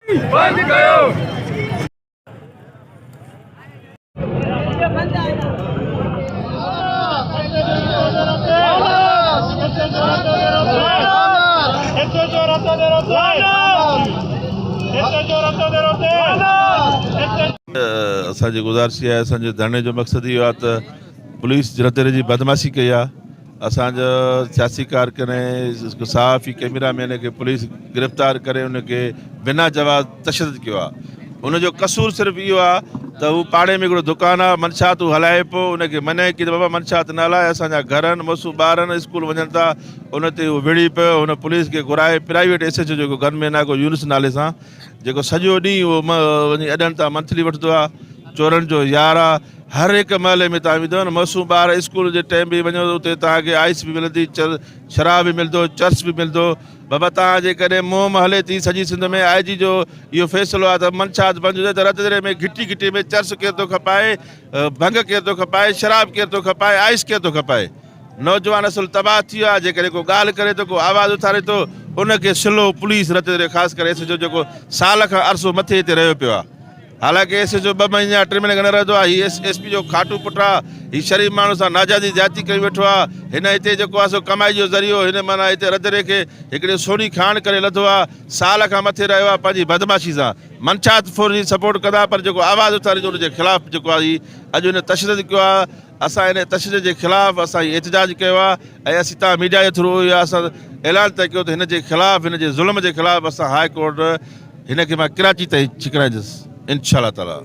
بند ڪيو. اسان جي گذارش اها آهي اسان جي ڌرڻي جو مقصد اهو آهي ته پوليس جنھن طرح جي بدمعاشي ڪئي آهي اسان جا سياسي ڪارڪن ۽ صحافي ڪيميرا مين کي پوليس گرفتار ڪري ان کي بنا جواز تشدد ڪيو آ ان جو قصور صرف اهو آ ته هو پاڙي ۾ هڪڙو دڪان آ منشات هو هلائي پيو ان کي منع ڪي ته بابا منشات نه هلاء اسان جا گهر آهن مؤسو ٻار آهن اسڪول وڃن ٿا ان تي هو وڙهي پيو هن پوليس کي گهرائي پرائيويٽ ايس ايچ او جيڪو گن مين آ ڪو يونس نالي سان جيڪو سڄو ڏينهن اهو وڃي اڏن تان منٿلي وٺدو آ چورن جو يار آ هر هڪ محلي ۾ توهان ويندو نه معصوم ٻار اسڪول جي ٽيم به وڃو اتي توهان کي آئس به ملندي شراب به ملندو چرس به ملندو بابا توهان جي ڪڏهن مهم هلي ٿي سڄي سنڌ ۾ آئي جي جو اهو فيصلو آهي ته منشيات بند هجي ته رت دري ۾ گهٽي گهٽي ۾ چرس ڪير ٿو کپائي ڀنگ ڪير ٿو کپائي شراب ڪير ٿو کپائي آئس ڪير ٿو کپائي نوجوان اصل تباهه ٿي ويو آهي جيڪڏهن ڪو ڳالهه ڪري ٿو ڪو آواز اٿاري ٿو ان کي سلو پوليس رت دري خاص ڪري ايس ايڇ او جيڪو سال کان عرصو مٿي هتي رهيو پيو آهي حالانڪ ايس ايچ او ٻه مهيني يا ٽي مهيني کان نه رهندو آهي، هي ايس پي جو کاٽو پٽ آ، هي شريف ماڻهن سان ناجائزي زيادتي ڪري ويٺو آ، هن هتي جيڪو آ سو ڪمائي جو ذريعو هن معنيٰ هتي رڌڻي کي هڪڙي سوني کاڻ ڪري لڌو آ، سال کان مٿي رهيو آ پنهنجي بدمعاشي سان، منشات فوري سپورٽ ڪندا پر جيڪو آواز اٿاريندو ان جي خلاف جيڪو آ هي اڄ هن تشدد ڪيو آ، اسان ان تشدد جي خلاف اسان هي احتجاج ڪيو آهي ۽ اسين تان ميڊيا جي ٿرو اهو اسان اعلان طئي ڪيو ته هن جي خلاف هن جي ظلم جي خلاف اسان هاء ڪورٽ هن کي مان ڪراچي تائين ڇڪرائيندس انشاء الله تعالي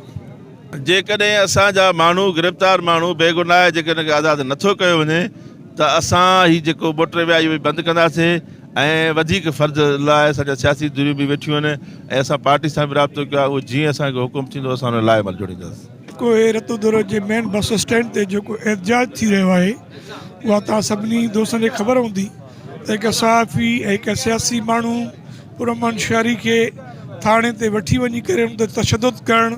جيڪڏهن اسان جا ماڻهو گرفتار ماڻهو بيگناهه جيڪڏهن کي آزاد نٿو ڪيو وڃي ته اسان هي جيڪو موٽر وي آهي اهو به بند ڪنداسين ۽ وڌيڪ فرض لاء اسان جا سياسي ڌريون به ويٺيون آهن ۽ اسان پارٽي سان به رابطو ڪيو آهي اهو جيئن اسان کي حڪم ٿيندو اسان ان لاء عمل جوڙينداسين. ڪوهي رتو دورو جي مين بس اسٽينڊ تي جيڪو احتجاج ٿي رهيو آهي اها توهان سڀني دوستن کي خبر هوندي ته هڪ صحافي ۽ هڪ سياسي ماڻهو پر امن شهري کي ٿاڻي تي وٺي وڃي ڪري ان تي تشدد ڪرڻ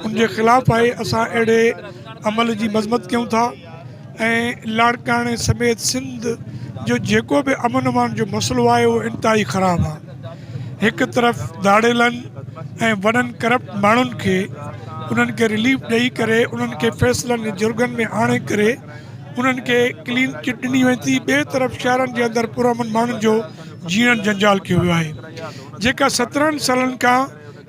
ان جي خلاف آهي اسان اهڙي عمل جي مذمت ڪيون ٿا ۽ لاڙڪاڻي سميت سنڌ جو جيڪو به امن امان جو مسئلو آهي اهو انتهائي خراب آهي هڪ طرف ڌاڙيلن ۽ وڏن ڪرپٽ ماڻهن کي انهن کي رليف ڏئي ڪري انهن کي فيصلن جي جرڳن ۾ آڻي ڪري انهن کي ڪلين چٽ ڏني وڃي ٿي ٻئي طرف شهرن جي اندر پرامن ماڻهن جو جيئڻ جنجال ڪيو ويو آهي جيڪا سترهن سالن کان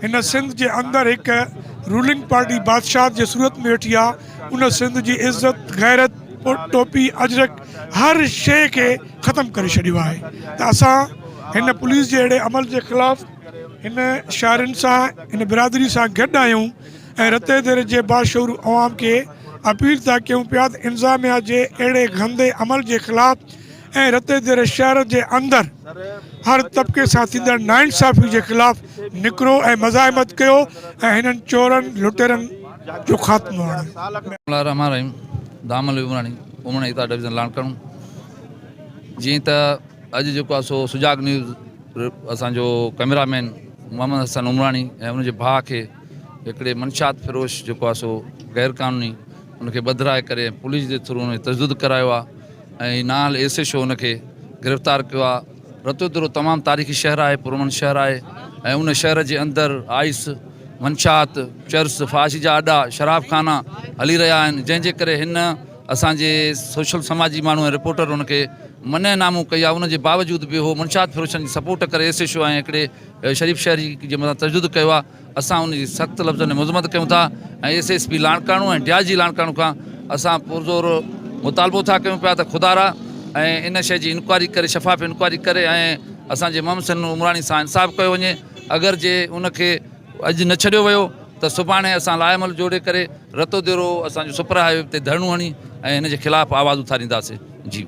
هن سنڌ جي اندر هڪ رولنگ پارٽي بادشاهت جي صورت ۾ ويٺي آ ان سنڌ جي عزت غيرت ٽوپي اجرڪ هر شي کي ختم ڪري ڇڏيو آهي ته اسان هن پوليس جي اهڙي عمل جي خلاف هن شاعرن سان هن برادري سان گڏ آهيون ۽ رتي دير جي باشعور عوام کي اپيل ٿا ڪيون پيا ته انظاميا جي اهڙي گندي عمل جي خلاف ۽ رتي دير شهر جي اندر هر طبقي سان ٿيندڙ ناانصافي جي خلاف نڪرو ۽ مزاحمت ڪيو ۽ هنن چورن لٽيرن جو خاتمو آڻيو. بسم الله الرحمٰن الرحيم دام علي عمراڻي امڙ ايتا ڊويزن لاڻڪاڻو جيئن ته اڄ جيڪو آ سو سجاڳ نيوز اسان جو ڪئميرا مين محمد حسن عمراڻي ۽ ان جي ڀاء کي هڪڙي منشات فروش جيڪو آ سو غير قانوني ان کي ٻڌرائي ڪري ۽ پوليس جي ٿرو ان کي تشدد ڪرايو آهي ۽ نانهل ايس ايڇ او ان کي گرفتار ڪيو آهي رتودرو تمام تاريخي شهر آهي پرامن شهر آهي ۽ ان شهر جي اندر آئس منشات چرس فاش جا اڏا شراب خانا هلي رهيا آهن جنهن جي ڪري هن اسان جي سوشل سماجي ماڻهو ۽ رپورٽر ان کي منع نامون ڪئي آهي ان جي باوجود به هو منشات فروشن جي سپورٽ ڪري ايس ايڇ او ۽ هڪڙي شريف شهري جي مٿان تشدد ڪيو آهي اسان ان جي سخت لفظن ۾ مذمت ڪيون ٿا ۽ S S P Larkana ۽ D I G Larkana کان اسان پرزور مطالبو ٿا ڪيون پيا ته خدارا ۽ ان شيء جي انڪوائري ڪري شفاف انڪوائري ڪري ۽ اسان جي محمد حسين عمراڻي سان انصاف ڪيو وڃي اگر جي ان کي اڄ نه ڇڏيو ويو ته سڀاڻي اسان لائحهعمل جوڙي ڪري رتو ديرو اسان جو سپر هاء وي تي ڌرڻو هڻي ۽ ان جي خلاف آواز اٿارينداسين جي.